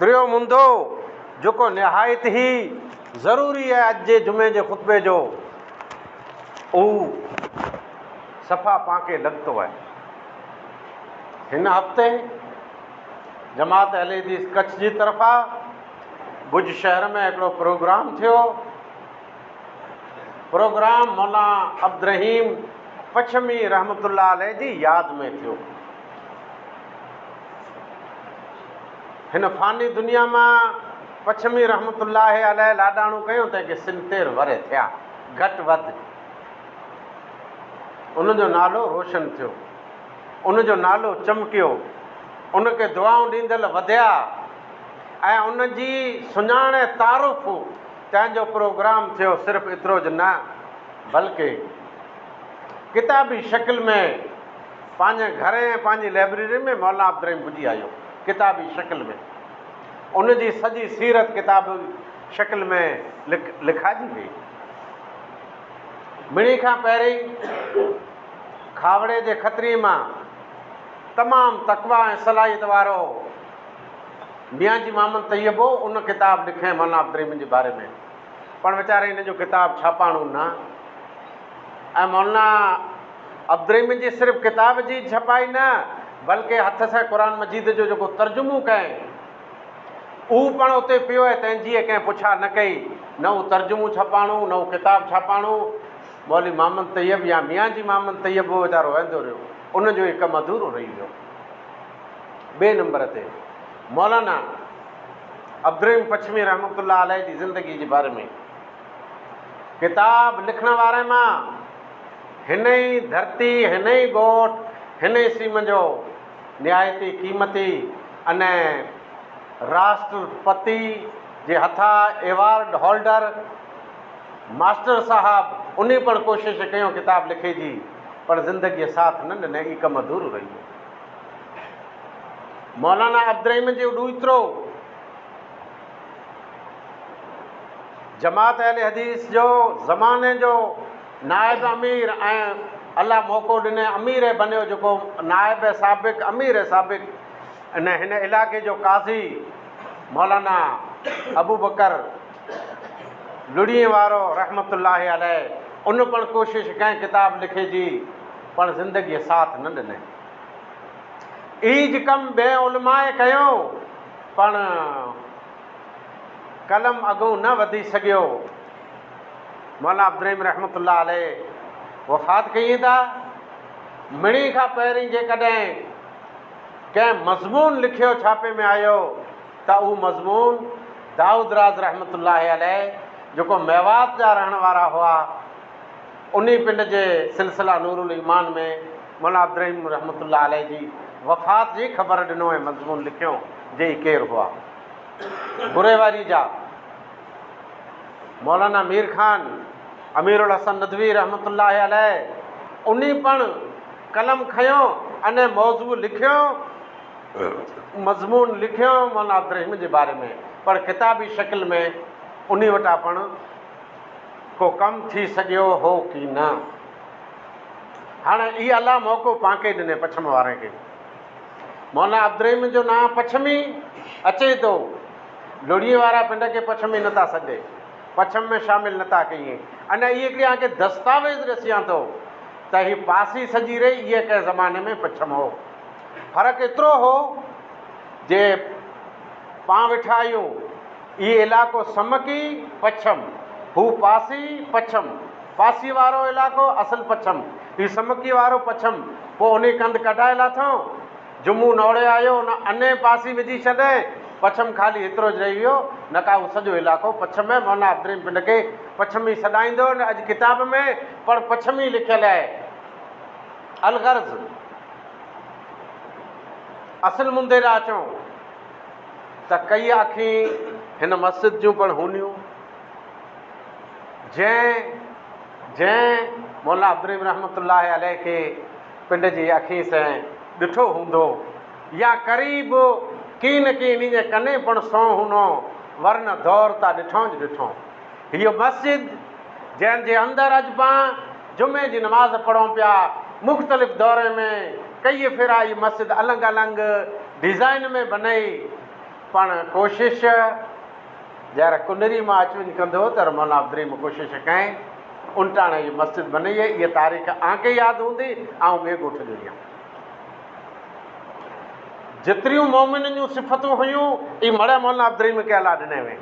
پھريون مندو جيڪو نھايت ھي ضروري آھي اڄ جي جمعي جي خطبي جو اھو صفا پانڪي لڳتو آھي. ھن ھفتي جماعت اھل حديث ڪڇ جي طرفان ڀڄ شھر ۾ ھڪڙو پروگرام ٿيو. پروگرام مولانا عبدالرحيم پڇمي رحمة الله عليه جي ياد ۾ ٿيو. هن فاني دنيا مان پڇمي رحمة الله عليه لاڏاڻو ڪيو تنهن کي سنتير ورهيه ٿيا گهٽ وڌ. ان جو نالو روشن ٿيو. ان جو نالو چمڪيو. ان کي دعائون ڏيندل وڌيا ۽ ان جي سڃاڻ ۽ تعارف تنهن جو پروگرام ٿيو صرف ايتروج نه بلڪه ڪتابي شڪل ۾ پنهنجي گهر ۽ پنهنجي لئبريري ۾ مولانا عبدالرحيم پڄي آيو ڪتابي شڪل ۾. ان جي سڄي سيرت ڪتابي شڪل ۾ لکائجي ويئي. مڙي کان پهرين کهاوڙي جي کتري مان تمام تقويٰ ۽ صلاحيت وارو ميان جي محمد طيب هو ان ڪتاب لکين مولانا عبدالرحيم جي باري ۾. پڻ ويچاري ان جو ڪتاب ڇاپاڻو نه. ۽ مولانا عبدالرحيم جي صرف ڪتاب جي ڇپائي نه بلڪه هٿ سان قرآن مجيد جو جيڪو ترجمو ڪيائين اهو پڻ اتي پيو ۽ تنهن جيء ڪنهن پڇا نه ڪئي نه اهو ترجمو ڇپاڻو نه اهو ڪتاب ڇاپاڻو مولوي محمد طيب يا ميان جي محمد طيب به ويچارو ويندو رهيو ان جو هي ڪم اڌورو رهي ويو ٻئي نمبر تي مولانا عبدالرحيم پڇمي رحمة الله عليه جي زندگي جي باري ۾ ڪتاب لکڻ وارن مان هن ئي ڌرتي، هن ئي ڳوٺ، هن ئي سيم جو نهايتي قيمتي انهن راشٽرپتي جي هٿان ايوارڊ هولڊر ماسٽر صاحب انهي پڻ ڪوشش ڪيون ڪتاب لکي جي پر زندگي ساٿ نه ڏني اي ڪم اڌورو رهي ويو. مولانا عبدالرحيم جي اڏويترو. جماعت اهل حديث جو زماني جو نائب امير ۽ الله موقعو ڏني امير بنيو جيڪو نائب سابق امير سابق ۽ هن علاقي جو قاضي مولانا ابوبڪر لڙيء وارو رحمت الله عليه ان پڻ ڪوشش ڪنهن ڪتاب لکي جي پڻ زندگي ساٿ نه ڏني ايج ڪم ٻين علماء ڪيو پڻ قلم اڳئون نه وڌي سگهيو. مولانا عبدالرحيم رحمة الله عليه وفات ڪيئين ته مڙيئي کان پهرين جيڪڏهن ڪنهن مضمون لکيو ڇاپي ۾ آيو ته اهو مضمون دائود راز رحمة الله عليه جيڪو ميوات جا رهڻ وارا هئا، انهي پنڊ جي سلسله نور الايمان ۾ مولانا عبدالرحيم رحمة الله عليه جي وفات جي خبر ڏنو ۽ مضمون لکيو جي هي ڪير هئا؟ بري واري جا مولانا مير خان امير الحسن ندوي رحمة الله عليه انهي پڻ قلم کنيو ان موضوع لکيو مضمون لکيو مولانا عبدالرحيم جي باري ۾ پر ڪتابي شڪل ۾ انهي وٽان پڻ ڪو ڪم ٿي سگهيو هو ڪي نه. هاڻ اي الله موقعو پانڪي ڏني پڇم واري کي. مولانا عبدالرحيم جو نانء پڇمي اچي ٿو. لوڙهيي وارا پنڊ کي پڇمي نه ٿا سڏين. پڇم ۾ شامل نه ٿا ڪيين. اڃا اي هڪڙي آنکي دستاويز ڏسيان ٿو ته هي پاسي سڄي رهي اي ڪنهن زماني ۾ پڇم هو. فرق ايترو هو جي پان ويٺا آهيون. اي علائقو سمڪي، پڇم، هو پاسي، پڇم، پاسي وارو علائقو، اصل پڇم، هي سمڪي وارو پڇم، پوء انهي ڪنڌ ڪڍائي لاٿئون، جو مون نوڙي آيو ان انهي پاسي وجهي ڇڏئين، پڇم خالي هيتروج رهي ويو، نه ڪا هو سڄو علائقو پڇم آهي، مولانا عبدالرحيم پنڊ کي پڇم ئي سڏائيندو نه اڄ ڪتاب ۾ پڻ پڇم ئي لکيل آهي. الغرض اصل مندي ڏانهن اچون. ته ڪيئي اکين هن مسجد جون پڻ هونديون، جنهن جنهن مولانا عبدالرحيم رحمة الله عليه کي پنڊ جي اکين سين ڏٺو هوندو يا قريب ڪي نه ڪي انهيء جي ڪنين پڻ سون هونئون، ورنه دور تان ڏٺئونج ڏٺئون. هيء مسجد، جنهن جي اندر اڄ پان جمعي جي نماز پڙهون پيا، مختلف دورين ۾ ڪيئي ڦيرا هيء مسجد النگ النگ ڊيزائين ۾ بنئي، پڻ ڪوشش جهر ڪنري مان اچ وڃ ڪندو تهر مولانا عبدالرحيم ڪوشش ڪئين، انٽاڻي هيء مسجد بنئي، اها تاريخ اوهانکي ياد هوندي، آئون ٻئي ڳوٺ جو هيان. جيتريون مومن جون صفتون هيون، اهي مڙهه مولانا عبدالرحيم کي الله ڏني هيون.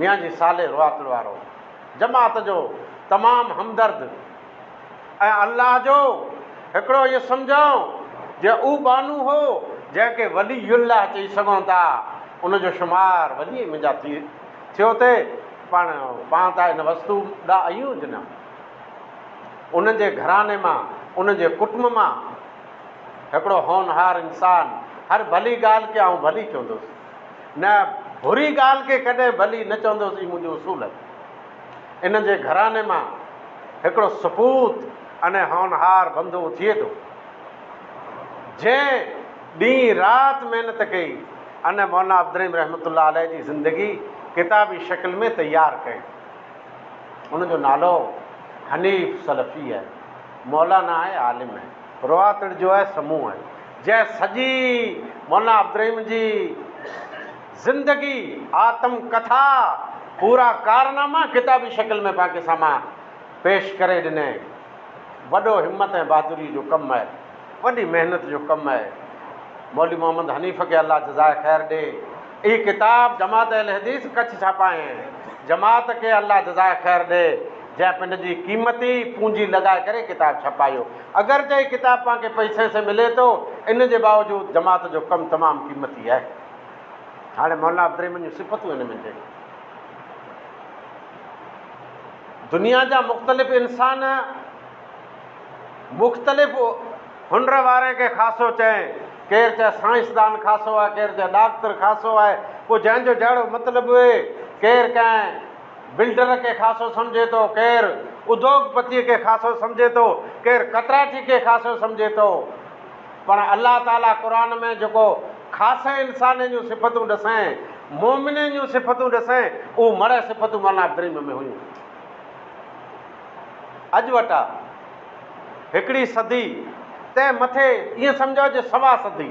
ميان جي صالح روهاٽڙ وارو جماعت جو تمام همدرد ۽ الله جو هڪڙو اهو سمجهاؤ جو اهو ٻانهو هو جنهن کي ولي الله چئي سگهون ٿا ان جو شمار ولي ۽ منهنجا ٿي ٿيو ته پاڻ پاڻ ته ان وستو ڏا ايون جنهن انهن جي گهراڻي مان انهن جي ڪٽنب مان هڪڙو هونهار انسان هر ڀلي ڳالهه کي آئون ڀلي چوندس نه بري ڳالهه کي ڪڏهن ڀلي نه چوندوس هي منهنجو اصول آهي. انهن جي گهراڻي مان هڪڙو سپوت ۽ هونهار بندو اٿئي ٿو. جنهن ڏينهن رات محنت ڪئي ۽ مولانا عبدالرحيم رحمة الله عليه جي زندگي ڪتابي شڪل ۾ تيار ڪئي. ان جو نالو حنيف سلفي آهي. مولانا آهي عالم آهي. رواتڙ جو آهي سمون آهي. جنهن سڄي مولانا عبدالرحيم جي زندگي آتم ڪٿا پورا ڪارناما ڪتابي شڪل ۾ پاڪي سامهان پيش ڪري ڏني وڏو همت ۽ بهادري جو ڪم اهي وڏي محنت جو ڪم اهي مولوي محمد حنيف کي الله جزاء خير ڏي. هي ڪتاب جماعت اهل حديث ڪڇ ڇاپائين. جماعت کي الله جزاء خير ڏي جنهن پنهنجي جي قيمتي پونجي لڳائي ڪري ڪتاب ڇپايو. اگرچه هي ڪتاب پان کي پئسي سين ملي ٿو ان جي باوجود جماعت جو ڪم تمام قيمتي آهي. هاڻي مولانا عبدالرحيم جون صفتون هن ۾ چيون. دنيا جا مختلف انسان. مختلف هنر واري کي خاصو چئين. ڪير چئي سائنسدان خاصو آهي، ڪير چئي ڊاڪٽر خاصو آهي، پوء جنهن جو جهڙو مطلب هئي. ڪير ڪنهن بلڊر کي خاصو سمجهي ٿو، ڪير ادوڳ پتيء کي خاصو سمجهي ٿو، ڪير ڪتراٺي کي خاصو سمجهي ٿو. پر الله تعاليٰ قرآن ۾ جيڪو خاصين انسانين جون صفتون ڏسين، مؤمنين جون صفتون ڏسين، اهو مڙهه صفتون معنيٰ دريم ۾ هيون. اڄ وٽا هڪڙي صدي تنهن مٿي ائين سمجهاء جو سوا صدي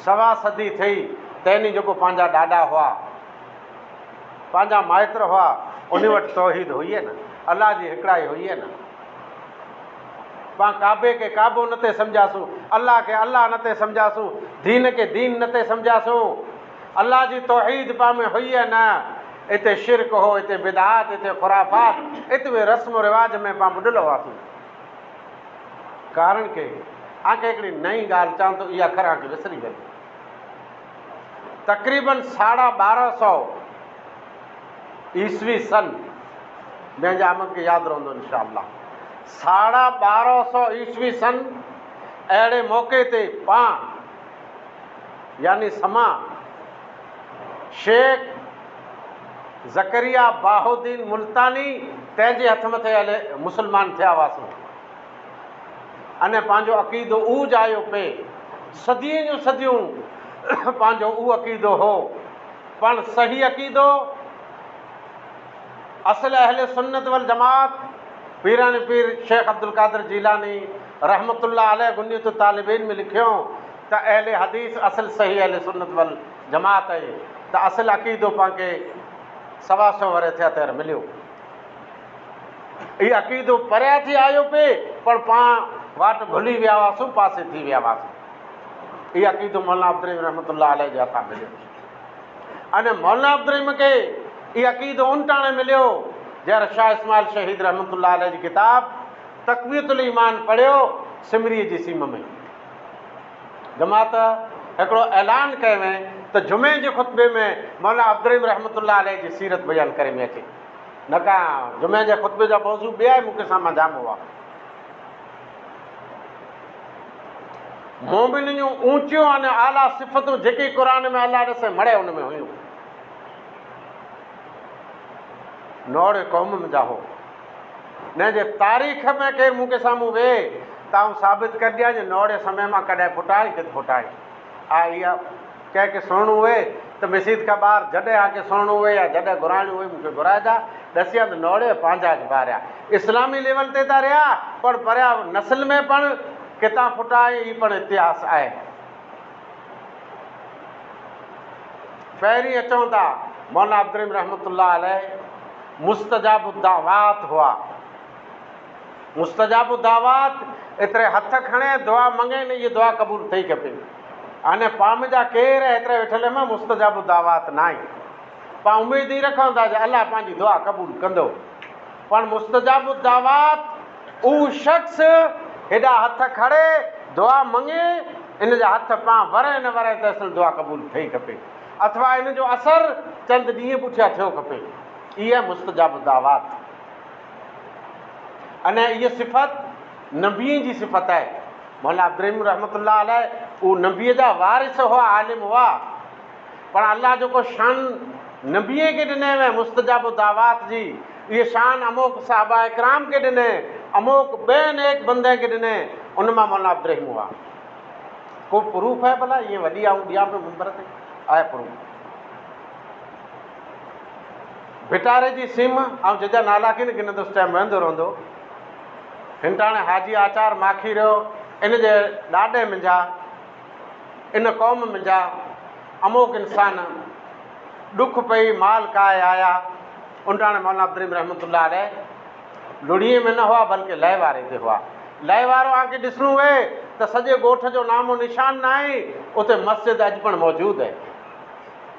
سوا صدي ٿئي تنهن جيڪو پنهنجا ڏاڏا هئا پنهنجا مائتر هئا ان وٽ توحيد هئي نه الله جي هڪڙائي هئي نه پان ڪعبي کي ڪعبو نه تي سمجهاسون الله کي الله نه تي سمجهاسون دين کي دين نه تي سمجهاسون الله جي توحيد پا ۾ هئي يا نه، اتي شرڪ هو، اتي بدعات، اتي خرافات، اتوي رسم و رواج ۾ پا ٻڏل هئاسون. ڪارڻ ڪي آنکي هڪڙي نئين ڳالهه چان ٿو اها کر آنکي وسري ويندي. تقريباً ساڙها ٻارهن سو عيسوي سن ۾ جا مونکي ياد رهندو انشاء الله ساڙها ٻارهن سو عيسوي سن اهڙي موقعي تي پا يعني سماع شيخ زڪريا بهاء الدين ملتاني تنهن جي هٿ مٿي هلي مسلمان ٿيا هئاسون ۽ پنهنجو عقيدو اهو جايو پي صدين جون صديون پنهنجو اهو عقيدو هو پڻ صحيح عقيدو اصل اهل سنت والجماعت پيران پير شيخ عبدالقادر جيلاني رحمة الله عليه غنية الطالبين ۾ لکيو ته اهل حديث اصل صحيح اهل سنت والجماعت اهي ته اصل عقيدو پان کي سوا سو ورهيه ٿيا تير مليو هي عقيدو پريا ٿي آيو پي پڻ پان واٽ ڀلي ويا هئاسون پاسي ٿي ويا هئاسون هي عقيدو مولانا عبدالرحيم رحمة الله عليه جي هٿان مليو ان مولانا عبدالرحيم کي اهو عقيدو ان ٽاڻي مليو جهر شاهه اسماعيل شهيد رحمة الله عليه جي ڪتاب تقويت الايمان پڙهيو سمري جي سيم ۾. جماعت هڪڙو اعلان ڪيو وين ته جمعي جي خطبي ۾ مولانا عبدالرحيم رحمة الله عليه جي سيرت بيان ڪري ۾ اچي. نڪا جمعي جي خطبي جا موضوع ٻيا ئي مون کي سامان جام هئا. مومنن جون اوچيون ۽ اعليٰ صفتون جيڪي قرآن ۾ الله ڏسي مڙهي ان ۾ هيون. نوڙي قومن جا هو. نه جي تاريخ ۾ ڪير مون کي سامهون ويهي ته آئون ثابت ڪري ڏيان جي نوڙي سمي مان ڪڏهن ڦٽا ۽ ڪٿ ڦٽا آهن. آ اي آ ڪنهن کي سهڻو هئي ته مسيت کان ٻاهر جڏهن آ کي سهڻو هئي يا جڏهن گهراڻيون هئي مون کي گهرائجا ڏسي هنڌ نوڙي پنهنجا اچ باريا اسلامي ليول تي ته رهيا پڻ پريا نسل ۾ پڻ ڪتان ڦٽا ۽ هي پڻ اتهاس آهي پهرين اچون ٿا مولانا عبدالرحيم رحمت الله عليه مستجاب الدعوات هئا. مستجاب الدعوات ايتري هٿ کڻي دعا مڱين اهي دعا قبول ٿئي کپين آن پام جا ڪير ايتري ويٺل مان مستجاب الدعوات ناهين پان اميد اهي رکون ٿا جو الله پنهنجي دعا قبول ڪندو پڻ مستجاب الدعوات اهو شخص هيڏا هٿ کڻي دعا مڱي ان جا هٿ پان ورهين نه ورهين ته اصل دعا قبول ٿئي کپي اٿوا ان جو اثر چند ڏينهن پٺيان ٿيو کپي اهي مستجاب الدعوات. ان اهي صفت نبيء جي صفت آهي. مولانا عبدالرحيم رحمة الله عليه اهو نبيء جا وارث هئا عالم هئا پر الله جيڪو شان نبيء کي ڏني هئي مستجاب الدعوات جي اهي شان اموک صحابه اڪرام کي ڏني اموک ٻئي نيڪ بندي کي ڏني ان مان مولانا عبدالرحيم هئا ڪو پروف آهي ڀلا ائين وڏي آئون ڏيان پيو منبر تي آهي پروف ڀٽاري جي سيم، آئون ججا نالا ڪين گنندس ٽيم وهندو رهندو. هنٽاڻي حاجي آچار ماکي رهيو ان جي ڏاڏي منجها، ان قوم منجها اموک انسان ڏک پئي مال ڪاء آيا. هنٽاڻي مولانا عبدالرحيم رحمة الله عليه لڙهيي ۾ نه هئا بلڪه لئي واري تي هئا. لئي وارو آنڪي ڏسڻو وي ته سڄي ڳوٺ جو نامو نشان ناهي، اتي مسجد اڄ پڻ موجود اهي.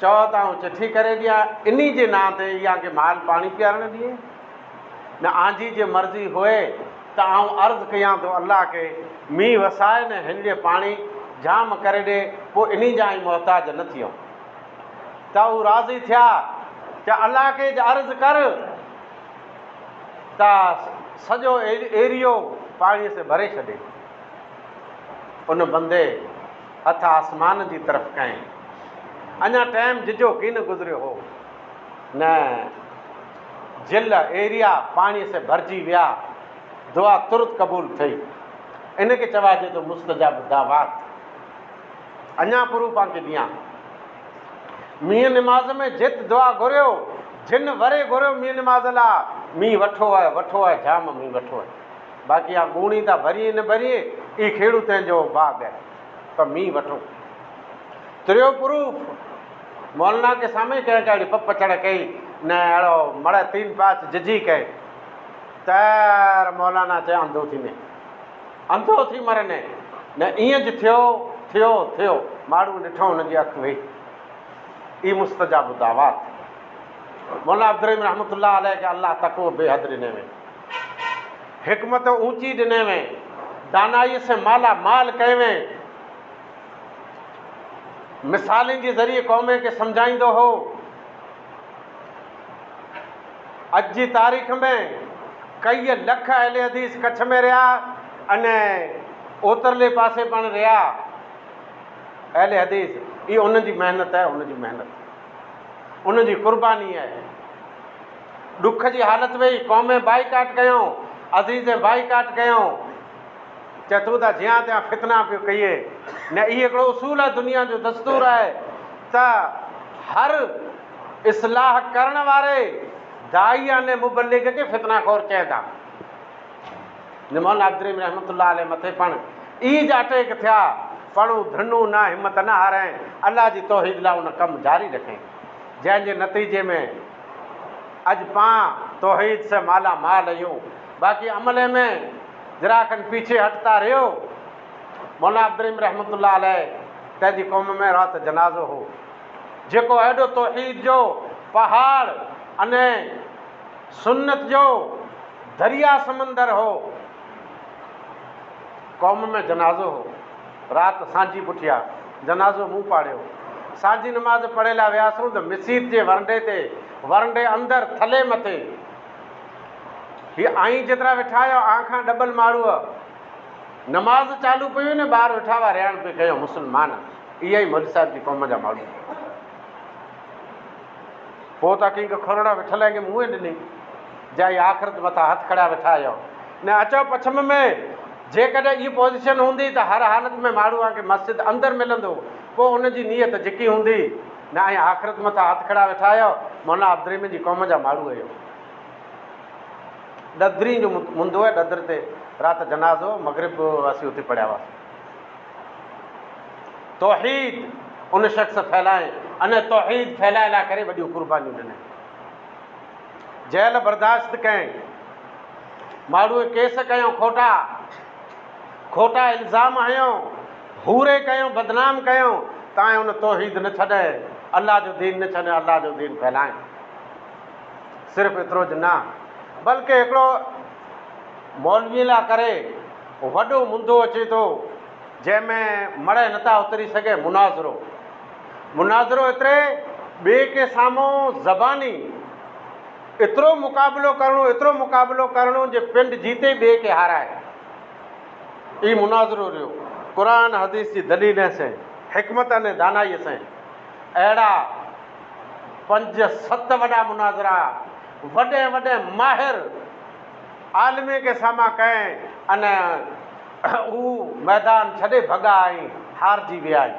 چئو ته آئون چٺي ڪري ڏيان، انهي جي نانء تي اها کي مال پاڻي پيارڻ ڏئي. نه آنجي جي مرضي هئي ته آئون عرض ڪيان ٿو الله کي مينهن وسائي نه هنجي پاڻي جام ڪري ڏي، پوء انهي جا آئين محتاج نه ٿيئون. ته هو راضي ٿيا ته الله کي ج عرض ڪر ته سڄو ايريو پاڻي سين ڀري ڇڏي. ان بندي. هٿ آسمان جي طرف ڪيائين. اڃا ٽيم ججهو ڪين گذريو هو نه جهل، ايريا، پاڻيء سين ڀرجي ويا. دعا ترت قبول ٿئي. ان کي چوائجي ٿو مستجاب الدعوات. اڃا پروف آن ڪي ڏيان. مينهن نماز ۾ جت دعا گهريو، جن وري گهريو مينهن نماز لا، مينهن وٺو آهي، وٺو آهي، جام مينهن وٺو آهي. باقي آ ڳوڻي ته ڀريين نه ڀريين، اي کيڙوتين جو باغ اي پ مين وٺو. تريو پروف، مولانا ڪي سامهين ڪنهن ڪا اهڙي پ پچڙ ڪئي نه اهڙو مڙهه تين پاچ ججي ڪئي ته ر مولانا چئي انڌو ٿي مين انڌو ٿي مرنين نه ايئن ج ٿيو ٿيو ٿيو ماڙهون ڏٺو ان جي اک وهي اي مستجاب الدعوات. مولانا عبدالرحيم رحمة الله عليه کي الله تقويٰ بيحد ڏني وئي. حڪمت اوچي ڏني وئي، دانائيء سين مالا مال ڪئي وئي. مثالين جي ذريعي قومين کي سمجهائيندو هو. اڄ جي تاريخ ۾ ڪيئي لک اهل حديث ڪڇ ۾ رهيا ۽ اوترلي پاسي پڻ رهيا. اهل حديث اهي انهن جي محنت آهي، انهن جي محنت انهن جي قرباني آهي. ڏک جي حالت ۾ ئي قومين بائيڪاٽ ڪيائون، عزيزين بائيڪاٽ ڪيائون، چئه تون ته جيان تيان فتنا پيو ڪيئي نه اهي هڪڙو اصول آهي دنيا جو دستور آهي ته هر اصلاح ڪرڻ واري داعي يعني مبلغ کي فتنا خور چئين ٿا نه مولانا عبدالرحيم رحمة الله عليه مٿي پڻ ايج اٽيڪ ٿيا پڻو ڌڻو نه همت نه هارين الله جي توحيد لاء ان ڪم جاري رکين جنهن جي نتيجي ۾ اڄ پان توحيد سين مالا مال اھيون باقي عملي ۾ ذرا کن پيڇي ھٽتا رھيو مولانا عبدالرحيم رحمة الله عليه تنھن جي قوم ۾ رات جنازو ھو جيڪو ايڏو توحيد جو پھاڙ انھي سنت جو دريا سمندر ھو. قوم ۾ جنازو هو. رات سانجهي پٺيا جنازو مون پاڙهيو. سانجهي نماز پڙهي لاء وياسون ته مسيت جي ورنڊي تي ورنڊي اندر ٿلهي مٿي هي آئين جيترا ويٺا هيا آن کان ڏبل ماڙهوء نماز چالو پئي هئي نه ٻاهر ويٺا هئا رياڻ پئي ڪيون مسلمان اهي ئي مولوي صاحب جي قوم جا ماڙهو هئا. پوء تان ڪينڪ کورڙا وٺل آهي ڪي منهن ڏني. جا اهي آخرت مٿان هٿ کڻيا ويٺا آهيو نه اچو پڇم ۾ جيڪڏهن اهي پوزيشن هوندي ته هر حالت ۾ ماڻهو کي مسجد اندر ملندو پوء ان جي نيت جڪي هوندي نه اهي آخرت مٿان هٿ کڻيا ويٺا آهيو مولانا عبدالرحيم جي قوم جا ماڻهو اهيو ڏدرين جو مندو آهي ڏدر تي رات جنازو مغرب اسين اتي پڙهيا هئاسين توحيد ان شخص ڦيلائي ان توحيد ڦيلائي لا ڪري وڏيون قربانيون ڏني جيل برداشت ڪئين. ماڙوء ڪيس ڪيو کوٽا. کوٽا الزام هنيو. حوري ڪيو بدنام ڪيو. تانء ان توحيد نه ڇڏئين. الله جو دين نه ڇڏئين. الله جو دين ڦهلائين. صرف ايتروج نه بلڪه هڪڙو مولويء لا ڪري وڏو منڌو اچي ٿو جنهن ۾ مڙهه نٿا اتري سگهي مناظرو. مناظرو ايتري ٻئي ڪنهن سامهون زباني ايترو مقابلو ڪرڻو ايترو مقابلو ڪرڻو جي پنڊ جيتي ٻئي کي هارائي اي مناظرو ريو قرآن حديث جي دليل ۽ سين حڪمت ۽ دانائي سين اهڙا پنج ست وڏا مناظرا وڏين وڏين ماهر عالمين کي سامهان ڪئين ۽ اهو ميدان ڇڏي ڀڳا ۽ هارجي ويا ۽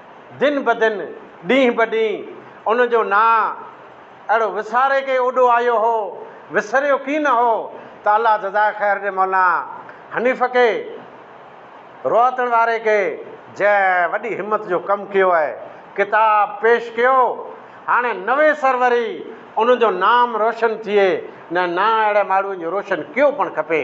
دن بدن، ڏينهن بڏينهن، ان جو نانء اهڙو وساري ڪي اوڏو آيو هو، وسريو ڪي نه هو ته الله جزائي خير ڏي مولانا حنيف ڪي روهتڙ واري ڪي جنهن وڏي همت جو ڪم ڪيو ۽ ڪتاب پيش ڪيو هاڻي نوي سر وري ان جو نام روشن ٿئي نه نانء اهڙي ماڙهوء جو روشن ڪيو پڻ کپي.